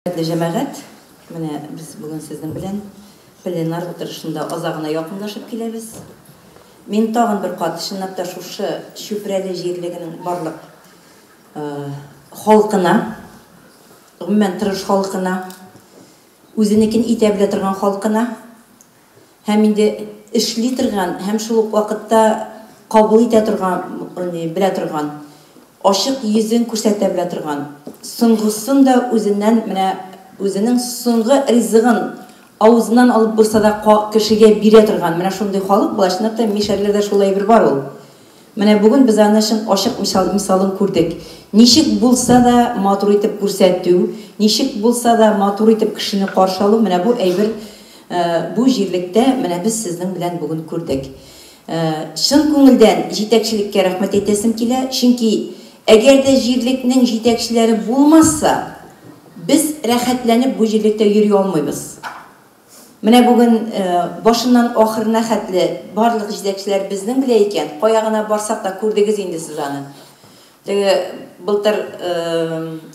Хөрмәтле җәмәгать, менә без бүген сезнең белән пленар утырышында азагына якынлашып киләбез. Мин тагын бер кат, чынлап та, шушы Чүпрәле җирлегенең барлык халкына, гомумән, тырыш халкына, үзенекен итә белә торган халкына, һәм инде эшли торган һәм шул ук вакытта кабул итә торган, ягъни белә торган, ачык йөзен күрсәтә белә торган, соңгысын да үзеннән, менә үзенең соңгы ризыгын авызыннан алып булса да кешегә бирә торган, менә шундый халык була, чынлап та мишәрләрдә шул әйбер бар ул. Менә бүген без аны чын ачык мисалын күрдек. Ничек булса да матур итеп күрсәтү, ничек булса да матур итеп кешене каршы алу, менә бу әйбер бу җирлектә менә без сезнең белән бүген күрдек. Чын күңелдән җитәкчелеккә рәхмәт әйтәсем килә, чөнки әгәр дә җирлекнең җитәкчеләре булмаса, без рәхәтләнеп бу җирлектә йөри алмыйбыз. Менә бүген башыннан ахырына хәтле барлык җитәкчеләр безнең белә икән, кая гына барсак та күрдегез инде сез аны. Теге былтыр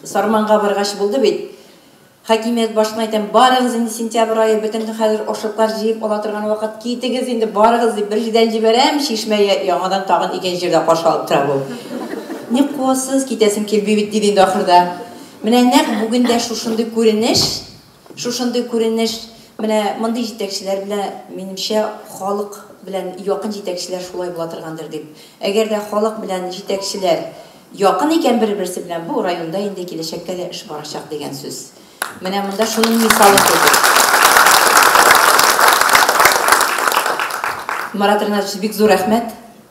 Сарманга баргач булды бит. Хакимият башына әйтәм, барыгыз инде сентябрь ае бөтенде хәзер ашлыклар җыеп ала торган вакыт, китегез инде барыгыз дип бер җедән җибәрәм, чишмә яңадан тагын икенче җирдә каршы алып тора бу. Ник куасыз, китәсем килми бит, диде инде ахырда. Менә нәкъ бүген дә шушындый күренеш. Шушындый күренеш, менә мондый җитәкчеләр белән, минемчә, халык белән якын җитәкчеләр шулай була торгандыр дип. Әгәр дә халык белән җитәкчеләр якын икән бер-берсе белән, бу районда инде киләчәккә дә эш барачак дигән сүз. Менә монда шуның мисалы кебек. Марат Ринатович, бик зур рәхмәт.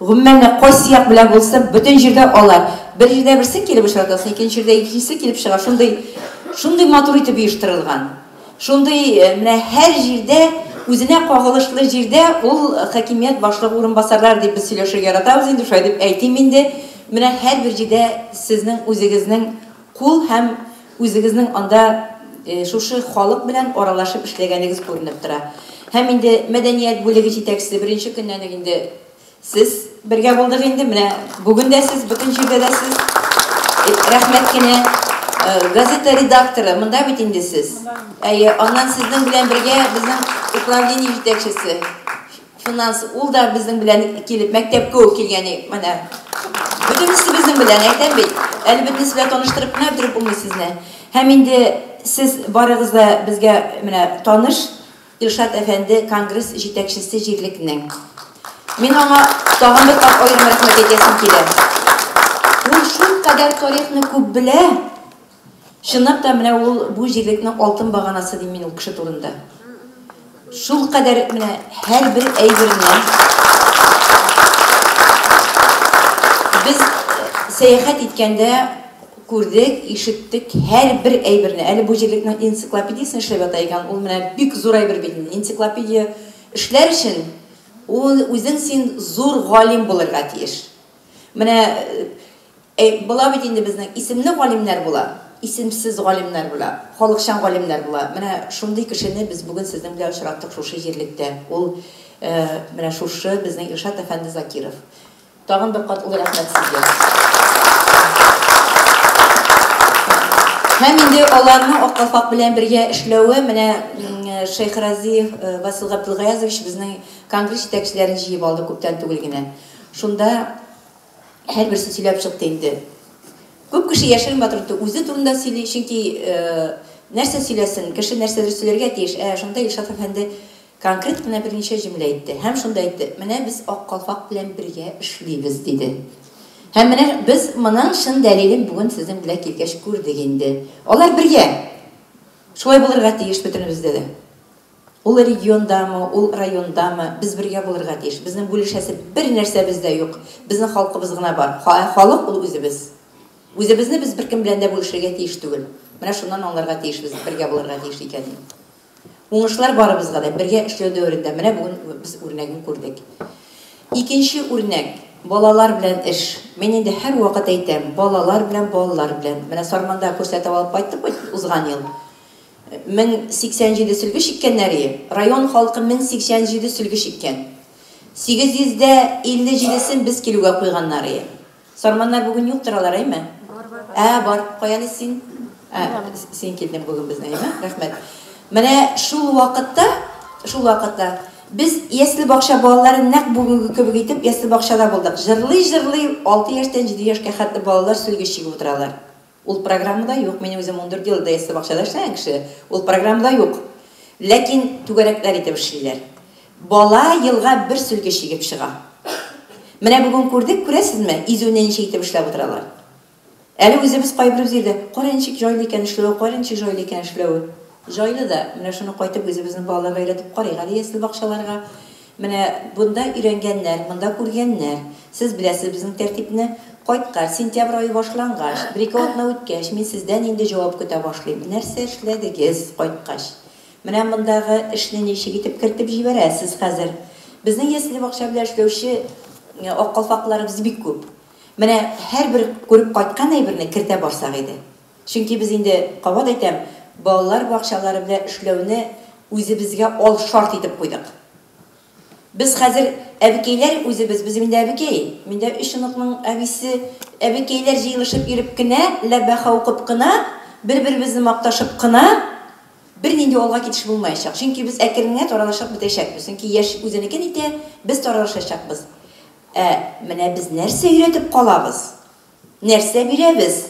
Гомумән дә, кайсы як белән булсын, бөтен җирдә алар. Бер җирдә берсе килеп очрата, соң икенче җирдә икенчесе килеп чыга. Шундый, шундый матур итеп оештырылган. Шундый, менә һәр җирдә, үзенә кагылышлы җирдә ул хакимият башлыгы урынбасарлары дип без сөйләшергә яратабыз инде, шулай дип әйтим инде. Менә һәрбер җирдә сезнең үзегезнең Кул һәм үзегезнең анда шушы халык белән аралашып эшләгәнегез күренеп тора. Һәм инде мәдәният бүлеге җитәкчесе беренче көннән үк инде сез бергә булдык инде, менә бүген дә сез, бөтен җирдә дә сез. Рәхмәт кенә. Газета редакторы, монда бит инде сез. Әйе, аннан сезнең белән бергә безнең управление җитәкчесе. Шуннан соң ул да безнең белән килеп мәктәпкә үк килгән и, менә. Бөтенесе безнең белән, әйтәм бит. Әле бөтенесе белән таныштырып кына бетереп булмый сезне. Һәм инде сез барыгыз да безгә менә таныш, Илшат әфәнде, конгресс җитәкчесе җирлекнең. Мин аңа тагын бер кат аерым рәхмәт әйтәсем килә. Ул шулкадәр тарихны күп белә, Чынлап та, менә ул бу җирлекнең алтын баганасы дим мин ул кеше турында. Шулкадәр менә һәрбер әйберне без сәяхәт иткәндә күрдек, ишеттек, һәрбер әйберне. Әле бу җирлекнең энциклопедиясен эшләп ята икән, ул менә бик зур әйбер бит инде. Энциклопедия эшләр өчен ул үзең син зур галим булырга тиеш. Менә э, була бит инде безнең исемле галимнәр була, исемсез галимнәр була, халыкчан галимнәр була. Менә шундый кешене без бүген сезнең белән очраттык шушы җирлектә. Ул э, менә шушы безнең Илшат әфәнде Закиров. Тагын бер кат олы рәхмәт сезгә. Һәм инде аларның Аккалфак белән бергә эшләве менә Шейх Разиев Васил Габдулгаязович безнең конгресс җитәкчеләрен җыеп алды күптән түгел генә. Шунда һәрберсе сөйләп чыкты инде. Күп кеше яшерен батырды, үзе турында сөйли, чөнки нәрсә сөйләсен, кеше нәрсәдер сөйләргә тиеш. Ә шунда Илшат әфәнде конкрет кына берничә җөмлә әйтте һәм шунда әйтте, Менә без Ак калфак белән бергә эшлибез, диде. Һәм менә без моның чын дәлилен бүген сезнең белән килгәч күрдек инде. Алар бергә! Шулай булырга тиеш бөтенебездә дә. Ул региондамы, ул райондамы, без бергә булырга тиеш. Безнең бүлешәсе бер нәрсәбез дә юк. Безнең халкыбыз гына бар. Ха, ә халык ул үзебез. Үзебезне без беркем белән дә бүлешергә тиеш түгел. Менә шуннан аңларга тиешбез, бергә булырга тиеш икәнен. Уңышлар барыбызга да, бергә эшләү дәверендә менә бүген без үрнәген күрдек. Икенче үрнәк, балалар белән эш. Мин инде һәрвакыт әйтәм, балалар белән, балалар белән. Менә Сарманда күрсәтеп алып кайттык бит узган ел. 1087 сөлге чиккәннәре Район халкы 1087 сөлге чиккән. 857 сен без килүгә куйганнар ие. Сарманнар бүген юктыр алар, әйме? Ә, бар. Каяны син? Ә, син килдең бүген безне, әйме? Рәхмәт. Менә шул вакытта, шул вакытта без ясле бакча балалары нәкъ бүгенге кебек итеп ясле бакчада булдык. Җырлый-җырлый алты яшьтән җиде яшькә хәтле балалар сөлге чигеп утыралар. Ул программада юк, мин үзем ундүрт ел ДСТ бакчада эшләгән кеше, ул программада юк. Ләкин түгәрәкләр итеп эшлиләр. Бала елга бер сөлге чигеп чыга. Менә бүген күрдек, күрәсезме, изүне ничек итеп эшләп утыралар. Әле үзебез кайбер җирдә, кара ничек җайлы икән эшләве, кара ничек җайлы икән эшләве. Җайлы да, менә шуны кайтып үзебезнең балаларга өйрәтеп карыйк әле ясле бакчаларга. Менә бунда өйрәнгәннәр, монда күргәннәр. Сез беләсез безнең тәртипне. Кайткач, сентябрь ае башлангач, бер-ике атна үткәч, мин сездән инде җавап көтә башлыйм. Нәрсә эшләдегез кайткач? Менә мондагы эшне ничек итеп кертеп җибәрәсез хәзер? Безнең ясле-бакча белән эшләүче ак калфакларыбыз бик күп. Менә һәрбер күреп кайткан әйберне кертә барсак иде. Чөнки без инде, кабат әйтәм, балалар бакчалары белән эшләүне үзебезгә ал шарт итеп куйдык. Без хәзер әбекәйләр үзебез, без инде әбекәй. Мин дә өч оныкның әбисе. Әбекәйләр җыелышып йөреп кенә, ләбаха укып кына, бер-беребезне макташып кына бернинди алга китеш булмаячак. Чөнки без әкрен генә таралышып бетәчәкбез. Чөнки яшь үзенекен итә, без таралышачакбыз. Ә менә без нәрсә өйрәтеп калабыз? Нәрсә бирәбез?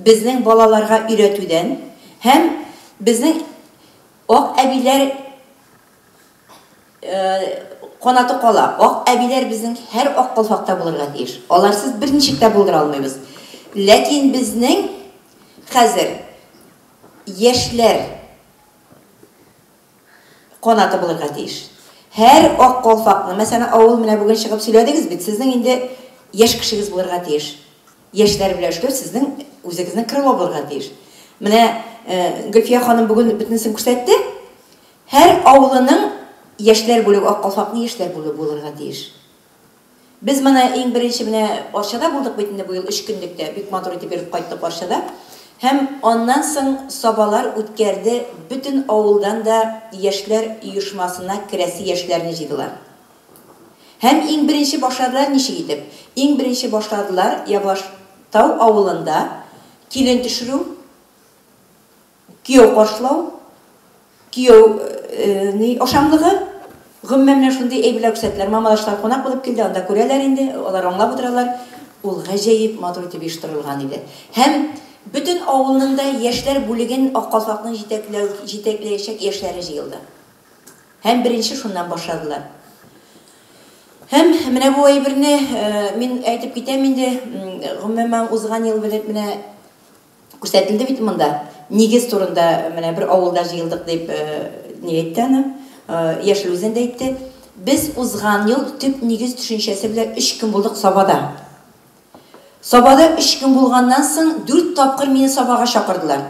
Безнең балаларга өйрәтүдән һәм безнең ак әбиләр канаты кала. Ак әбиләр безнең һәр ак калфакта булырга тиеш. Аларсыз берничек тә булдыра алмыйбыз. Ләкин безнең хәзер яшьләр Канаты булырга тиеш. Һәр ак калфакның, мәсәлән, авыл менә бүген чыгып сөйләдегез бит, сезнең инде яшь кешегез булырга тиеш. Яшьләр белән эшләү сезнең үзегезнең крыло булырга тиеш. Менә Гөлфия ханым бүген бөтенесен күрсәтте. Һәр авылының яшьләр бүлеге, ак калфакның яшьләр бүлеге булырга тиеш. Без моны иң беренче менә Арчада булдык бит инде бу ел өч көнлек тә, бик матур итеп йөреп кайттык Арчада. Һәм аннан соң Сабалар үткәрде, бөтен авылдан да яшьләр оешмасына керәсе яшьләрне җыйдылар. Һәм иң беренче башладылар ничек итеп? Иң беренче башладылар Ябаштау авылында килен төшерү, Кияү каршылау, кияү ни ашамлыгы, гомумән менә шундый әйберләр күрсәтәләр. Мамадашлар кунак булып килде, анда күрәләр инде, алар аңлап утыралар. Ул гаҗәеп матур итеп оештырылган иде. Һәм бөтен авылның да яшьләр бүлеген Ак калфакның җитәкләү, җитәкләячәк яшьләре җыелды. Һәм беренче шуннан башладылар. Һәм менә бу әйберне мин әйтеп китәм инде, гомумән узган ел белеп менә Күрсәтелде бит монда. Нигез турында менә бер авылда җыелдык дип ни әйтте аны. Яшел Үзән дә әйтте. Без узган ел төп нигез төшенчәсе белән өч көн булдык Сабада. Сабада өч көн булганнан соң дүрт тапкыр мине Сабага чакырдылар.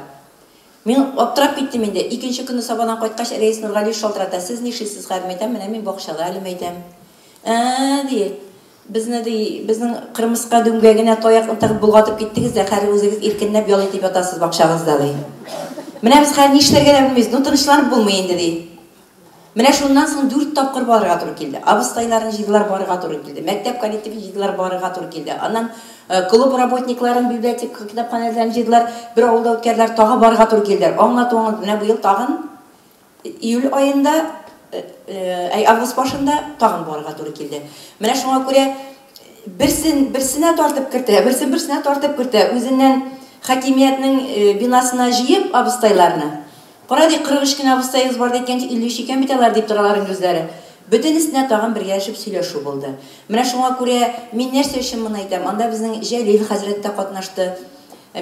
Мин аптырап киттем инде. Икенче көнне Сабадан кайткач, Рәис Нургалиев шалтырата, Сез нишлисез, хәзер мәйтәм, менә мин бакчада әле мәйтәм. Ә-ә-ә, ди. Безне, ди, безнең кырмыска дүмгә генә таякны тагып болгатып киттегез дә, хәзер үзегез иркенләп ял итеп ятасыз бакчагызда, ди. Менә без хәзер нишләргә дә белмибез, ну, тынычланып булмый инде, ди. Менә шуннан соң дүрт тапкыр барырга туры килде. Абыстайларын җыйдылар, барырга туры килде. Мәктәп коллективын җыйдылар, барырга туры килде. Аннан клуб работникларын, библиотека, китапханәләрен җыйдылар, бер авылда үткәрделәр, тагы барырга туры килделәр. Аңлату, аңлату, менә быел тагын. Июль аенда, әй, август башында тагын барырга туры килде. Менә шуңа күрә берсен берсенә тартып кертә, берсен берсенә тартып кертә, үзеннән хакимиятнең бинасына җыеп абыстайларны. Кара ди, 43 кенә абыстаебыз бар ди, әйткәнче 53 икән бит алар, дип торалар инде үзләре. Бөтенесенә тагын бергәләшеп сөйләшү булды. Менә шуңа күрә мин нәрсә өчен моны әйтәм, анда безнең Җәлил хәзрәт тә катнашты,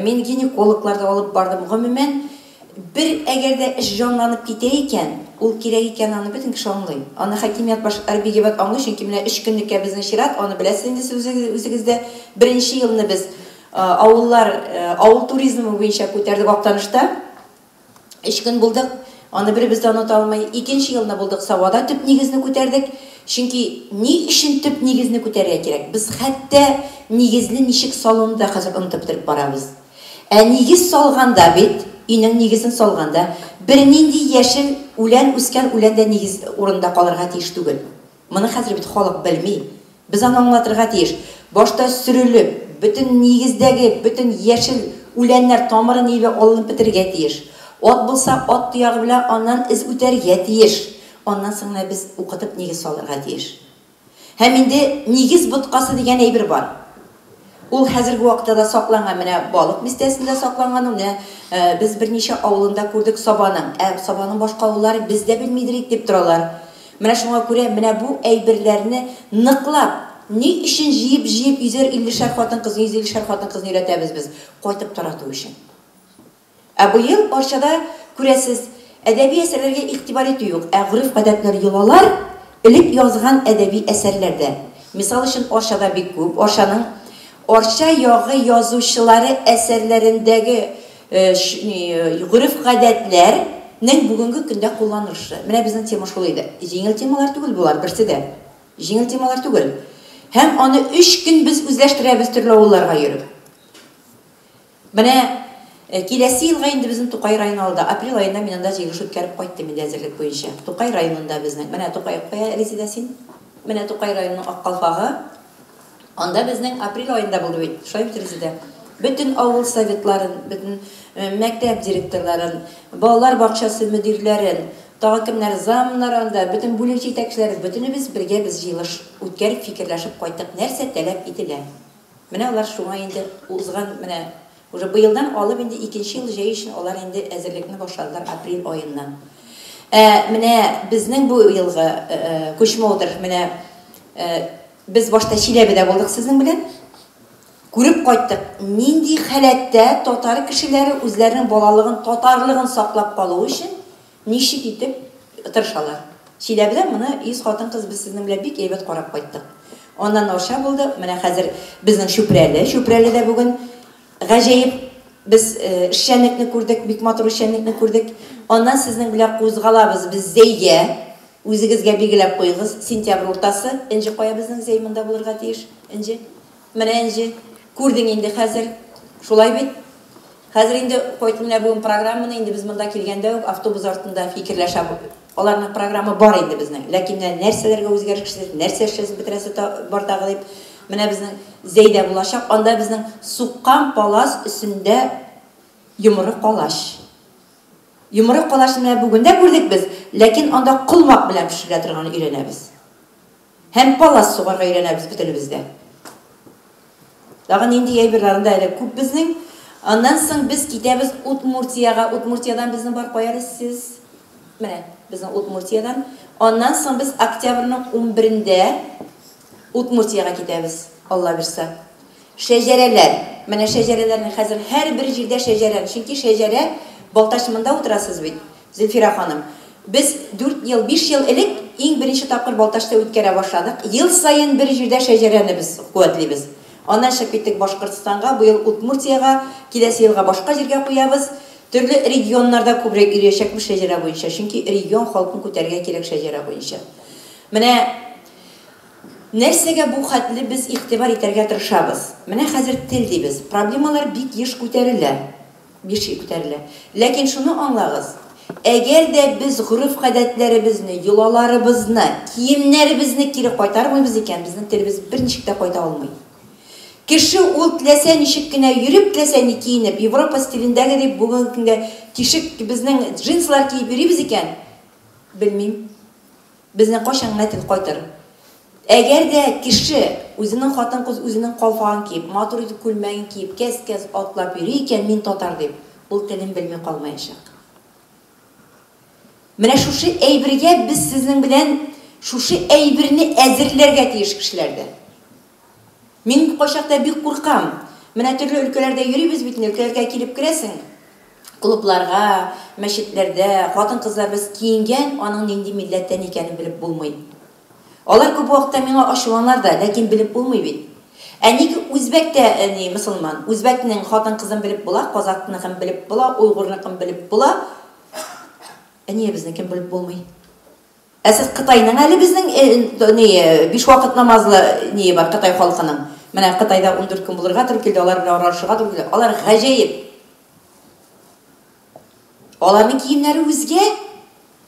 мин гинекологлар да алып бардым. Гомумән, Бер әгәр дә эш җанланып китә икән, ул кирәк икәнен аны бөтен кеше аңлый. Аны хакимият башы Арбигебат аңлый, чөнки менә өч көнлеккә безнең чират, аны беләсез инде сез үзегез дә. Беренче елны без авыллар, авыл туризмы буенча күтәрдек Актанышта. Өч көн булдык, аны беребез дә оныта алмый. Икенче елны булдык Савада төп нигезне күтәрдек. Чөнки ни өчен төп нигезне күтәрергә кирәк? Без хәтта нигезне ничек салуны да хәзер онытып бетереп барабыз. Ә нигез салганда бит, өйнең нигезен салганда, бернинди яшел үлән үскән үлән дә нигез урынында калырга тиеш түгел. Моны хәзер бит халык белми. Без аны аңлатырга тиеш. Башта сөрелеп, бөтен нигездәге бөтен яшел үләннәр тамыры-ниве алынып бетерергә тиеш. Ат булса, ат тоягы белән аннан эз үтәргә тиеш. Аннан соң гына без укытып нигез салырга тиеш. Һәм инде нигез боткасы дигән әйбер бар. Ул хәзерге вакытта да сакланган. Менә Балык бистәсендә сакланган ул. Менә без берничә авылында күрдек Сабаның. Ә Сабаның башка авылларын без дә белмидер ик, дип торалар. Менә шуңа күрә менә бу әйберләрне ныклап, ни өчен җыеп-җыеп йөзәр иллешәр хатын-кызны, йөз иллешәр хатын-кызны өйрәтәбез без? Кайтып тарату өчен. Ә быел Арчада, күрәсез, әдәби әсәрләргә игътибар итү юк, ә гореф-гадәтләр йолалар, элек язган әдәби әсәрләр дә, мисал өчен, Арчада бик күп, Арчаның Арча ягы язучылары әсәрләрендәге гореф-гадәтләр нең бүгенге көндә кулланылышы. Менә безнең тема шул иде. Җиңел темалар түгел болар, берсе дә. Җиңел темалар түгел. Һәм аны өч көн без үзләштерәбез төрле авылларга йөреп. Менә киләсе елга инде безнең Тукай районы алда. Апрель аенда мин анда җыелыш үткәреп кайттым инде әзерлек буенча. Тукай районында безнең. Менә Тукай, кая, Резидә, син? Менә Тукай районының ак калфагы. Анда безнең апрель аенда булды бит. Шулай бит, Резидә? Бөтен авыл советларын, бөтен мәктәп директорларын, балалар бакчасы мөдирләрен, тагы кемнәр, замнар анда, бөтен бүлек җитәкчеләре, бөтенебез бергә без җыелыш үткәреп, фикерләшеп кайттык, нәрсә таләп ителә. Менә алар шуңа инде узган менә уже быелдан алып инде икенче ел җәй өчен алар инде әзерлекне башладылар апрель аеннан. Ә менә безнең бу елгы Кучмодер менә без башта Чиләбедә булдык сезнең белән. Күреп кайттык, нинди халәттә татар кешеләре үзләренең балалыгын, татарлыгын саклап калу өчен Ничек итеп тырышалар. Чиләбедә моны 100 хатын-кыз без сезнең белән бик әйбәт карап кайттык. Аннан Арча булды, менә хәзер безнең Чүпрәле. Чүпрәледә бүген гаҗәеп без эшчәнлекне күрдек, бик матур эшчәнлекне күрдек. Аннан сезнең белән кузгалабыз без Зәйгә. Үзегезгә билгеләп куегыз, сентябрь уртасы Энҗе кая безнең Зәй монда булырга тиеш. Энҗе. Менә энҗе, күрдең инде хәзер. Шулай бит? Хәзер инде кайт менә бүген программаны инде без монда килгәндә үк автобус артында фикерләшә Аларның програмы бар инде безнең. Ләкин менә нәрсәләргә үзгәреш кертәсе, нәрсә эшләсе бетерәсе та бар тагы дип. Менә безнең Зәйдә булачак, анда безнең суккан палас өстендә йомры калач. Йомры калачны менә бүген дә күрдек без, ләкин анда колмак белән пешерелә торганын өйрәнәбез. Һәм палас сугарга өйрәнәбез бөтенебез дә. Тагын нинди әйберләр анда әле күп безнең. Аннан соң без китәбез Удмуртиягә. Удмуртиядән безнең бар кая әле сез? Менә безнең Удмуртиядән. Аннан соң без октябрьнең унберендә Удмуртиягә китәбез, Алла бирса. Шәҗәрәләр. Менә шәҗәрәләрнең хәзер һәрбер җирдә шәҗәрән, чөнки шәҗәрә Балтач монда утырасыз бит. Зөлфирә ханым, без дүрт ел, биш ел элек иң беренче тапкыр Балтачта үткәрә башладык. Ел саен бер җирдә шәҗәрәне без куәтлибез. Аннан чыгып киттек Башкортстанга, быел Удмуртиягә, киләсе елга башка җиргә куябыз. Төрле регионнарда күбрәк йөриячәкбез шәҗәрә буенча, чөнки регион халкын күтәрергә кирәк шәҗәрә буенча. Менә нәрсәгә бу хәтле без игътибар итәргә тырышабыз. Менә хәзер тел дибез. Проблемалар бик еш күтәрелә. Миши күтәрелә. Ләкин шуны аңлагыз, әгәр дә без гореф-гадәтләребезне, йолаларыбызны, киемнәребезне кире кайтармыйбыз икән, безнең телебез берничек тә кайта алмый. Кеше ул теләсә ничек кенә йөреп, теләсә ни киенеп, Европа стилендәгедәй бүгенге көнгә тишек, безнең джинслар киеп йөрибез икән, белмим. Безнең кайчан генә тел кайтыр. Әгәр дә кеше үзенең хатын-кыз үзенең калфагын киеп, матур итеп күлмәген киеп, кәс-кәс атлап йөри икән, мин татар дип, ул телен белми калмаячак. Менә шушы әйбергә без сезнең белән шушы әйберне әзерләргә тиеш кешеләрдә. Мин бу кайчакта бик куркам. Менә төрле өлкәләрдә йөрибез бит инде, өлкәләргә килеп керәсең, клубларга, мәчетләрдә, хатын-кызларыбыз киенгән, аның нинди милләттән икәнен белеп булмый. Алар күп вакытта миңа ачуланар да, ләкин белеп булмый бит. Ә ник үзбәк тә ни, мосылман? Үзбәкнең хатын-кызын белеп була, казакныкын белеп була, уйгурныкын белеп була, ә нигә безнекен белеп булмый? Ә сез Кытайның әле безнең ни биш вакыт намазлы ние бар Кытай халкының. Менә Кытайда ундүрт көн булырга туры килде, алар белән аралашырга туры килде. Алар гаҗәеп. Аларның киемнәре үзгә,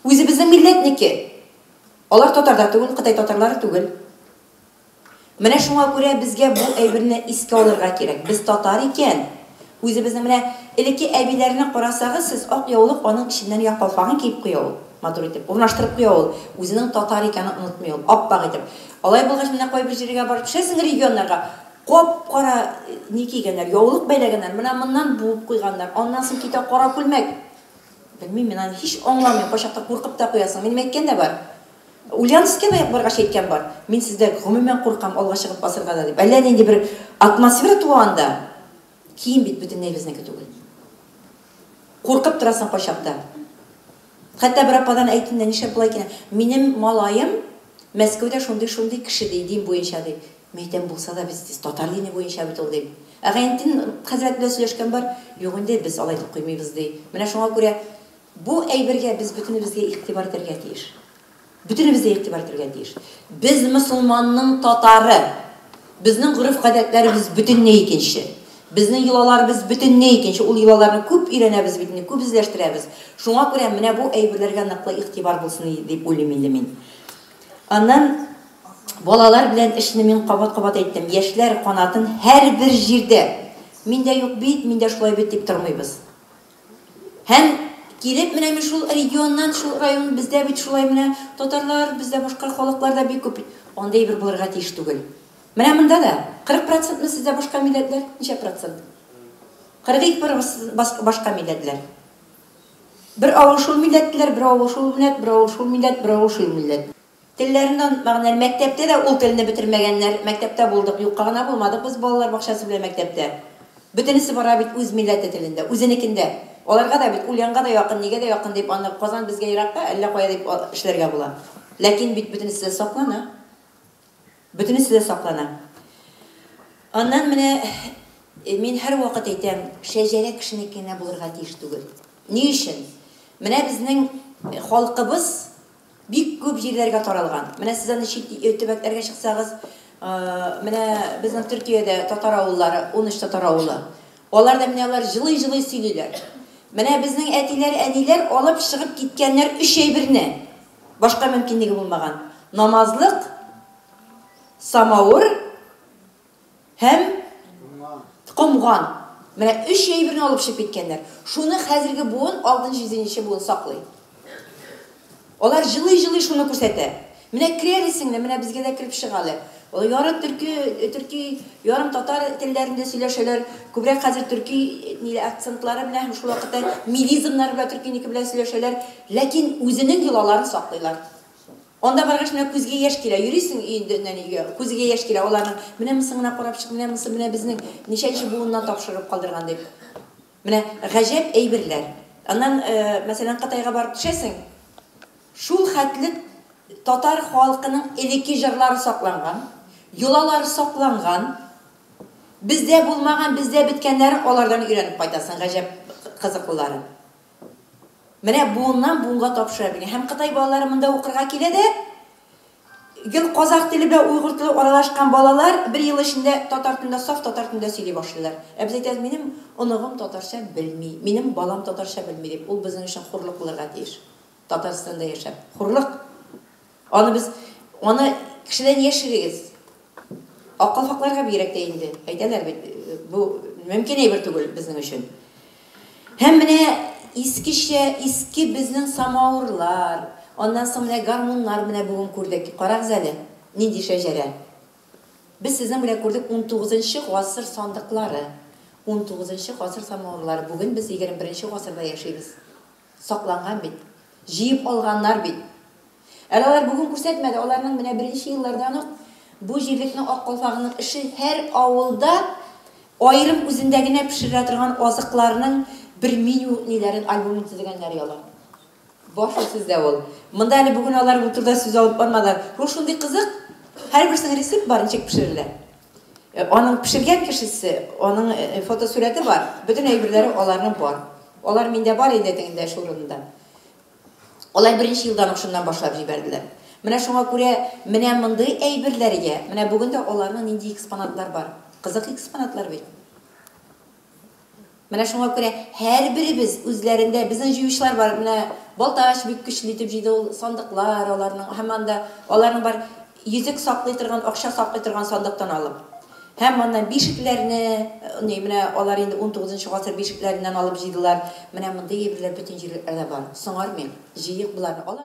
үзе безнең милләтнеке. Алар татар да түгел, Кытай татарлары түгел. Менә шуңа күрә безгә бу әйберне искә алырга кирәк. Без татар икән, үзебезнең менә элекке әбиләрне карасагыз сез, ак яулык аның эченнән йә калфагын киеп куя ул, матур итеп, урнаштырып куя ул, үзенең татар икәнен онытмый ул, ап-ак итеп. Алай булгач, менә кайбер җиргә барып төшәсең, регионнарга, кап-кара ни кигәннәр, яулык бәйләгәннәр, менә моннан буып куйганнар, аннан соң китә кара күлмәк. Белмим мин, аны һич аңламыйм, кайчакта куркып та куясың. Минем әйткән дә бар. Ульяновскига баргач әйткән бар, мин сездә гомумән куркам алга чыгып басырга да дип. Әллә нинди бер атмосфера туа анда. Кием бит бөтенләй безнеке түгел. Куркып торасың кайчакта. Хәтта бер ападан әйтеннәр, нишләп болай киенә? Минем малаем Мәскәүдә шундый-шундый кеше ди, дин буенча ди. Мин әйтәм, булса да без тиз татар дине буенча бит ул дим. Ә Гайнетдин хәзрәт белән сөйләшкән бар, юк инде, без алай дип куймыйбыз ди. Менә шуңа күрә Бу әйбергә без бөтенебезгә игътибар итәргә тиеш. Бөтенебез дә игътибар итәргә тиеш. Без мосылманның татары. Безнең гореф-гадәтләребез бөтенләй икенче. Безнең йолаларыбыз бөтенләй икенче. Ул йолаларны күп өйрәнәбез бит инде, күп эзләштерәбез. Шуңа күрә менә бу әйберләргә ныклы игътибар булсын иде дип уйлыйм инде мин. Аннан балалар белән эшне мин кабат-кабат әйттем. Яшьләр канатын һәрбер җирдә, Миндә юк бит, миндә шулай бит, дип тормыйбыз. Һәм килеп менә мин шул регионнан, шул район, бездә бит шулай менә татарлар, бездә башка халыклар да бик күп бит. Андый әйбер булырга тиеш түгел. Менә монда да 40 процентмы сездә башка милләтләр? Ничә процент? 42 процент башка милләтләр. Бер авыл шул милләтләр, бер авыл шул милләт, бер авыл шул милләт, бер авыл шул милләт. Телләреннән мәгънәле Мәктәптә дә ул телне бетермәгәннәр Мәктәптә булдык, юкка гына булмадык без Балалар бакчасы белән мәктәптә Бөтенесе бара бит үз милләте телендә, үзенекендә Аларга да бит, Ульянга да якын, нигә дә якын дип аны Казан безгә еракка, әллә кая дип эшләргә була Ләкин бит бөтенесе дә саклана Бөтенесе дә саклана Аннан менә мин һәрвакыт әйтәм, шәҗәрә кешенеке генә булырга тиеш түгел Ни өчен? Менә безнең халкыбыз Бик күп җирләргә таралган. Менә сез аны чит ил төбәкләргә чыксагыз, менә безнең Төркиядә татар авыллары, унөч татар авылы. Алар да менә алар җылый-җылый сөйлиләр. Менә безнең әтиләр, әниләр алып чыгып киткәннәр өч әйберне, башка мөмкинлеге булмаган, намазлык, самавыр, Һәм? Комган. Менә өч әйберне алып чыгып киткәннәр. Шуны хәзерге буын, алтынчы, җиденче буын саклый. Алар җылый-җылый шуны күрсәтә. Менә керә әле сеңлем, менә безгә дә кереп чык әле. Яры төрки, төрки, ярым татар телләрендә сөйләшәләр. Күбрәк хәзер төрки ниле акцентлары белән һәм шул вакытта милизмнары белән төркинеке белән сөйләшәләр. Ләкин үзенең йолаларын саклыйлар. Анда баргач, менә күзгә яшь килә. Йөрисең өендәннән-өйгә, күзегә яшь килә, аларның, Менә монсын гына карап чык, менә монсын, менә безнең ничәнче буыннан тапшырып калдырган, дип. Менә гаҗәп әйберләр. Аннан, мәсәлән, Кытайга барып төшәсең, шул хәтле татар халкының элекке җырлары сакланган, йолалары сакланган. Бездә булмаган, бездә беткәннәрен алардан өйрәнеп кайтасың, гаҗәп кызыклылары. Менә буыннан буынга тапшырып иде. Һәм кытай балалары монда укырга килә дә, гел казах теле белән уйгур теле аралашкан балалар бер ел эчендә татар телендә, саф татар телендә сөйли башлыйлар. Ә без әйтәбез, минем оныгым татарча белми, минем балам татарча белми дип. Ул безнең өчен хурлык булырга тиеш. Татарстанда яшәп. Хурлык! Аны без, аны кешедән яшерегез. Ак калфакларга бигрәк тә инде. Әйтәләр бит, бу мөмкин әйбер түгел безнең өчен. Һәм менә искечә, иске безнең самавырлар, аннан соң менә гармуннар менә бүген күрдек. Карагыз әле, нинди шәҗәрә. Без сезнең белән күрдек унтугызынчы гасыр сандыклары, унтугызынчы гасыр самавырлары. Бүген без егерме беренче гасырда яшибез. Сакланган бит. Җыеп алганнар бит. Әле алар бүген күрсәтмәде, аларның менә беренче еллардан ук бу җирлекне Ак калфагының эше һәр авылда аерым үзендә генә пешерелә торган азыкларның бер меню ниләрен, альбомын төзегәннәр яла. Бар шул сездә ул. Монда әле бүген алар бу турыда сүз алып бармадылар. Ул шундый кызык, һәрберсенең рецепт бар, ничек пешерелә. Аның пешергән кешесе, аның фотосурәте бар, бөтен әйберләре аларның бар. Алар миндә бар инде теге дәш урынында. Алар беренче елдан ук шуннан башлап җибәрделәр. Менә шуңа күрә менә мондый әйберләргә, менә бүген дә аларның нинди экспонатлар бар. Кызык экспонатлар бит. Менә шуңа күрә һәрберебез үзләрендә, безнең җыючылар бар, менә Балтач бик көчле итеп җыйды, ул сандыклар аларның, һәм анда аларның бар йөзек саклый торган, акча саклый торган сандыктан алып, һәм аннан бишекләрне, ни, менә алар инде унтугызынчы гасыр бишекләреннән алып җыйдылар, менә мондый әйберләр бөтен җирлекләрдә бар, соңармыйк, җыйыйк боларны, алар.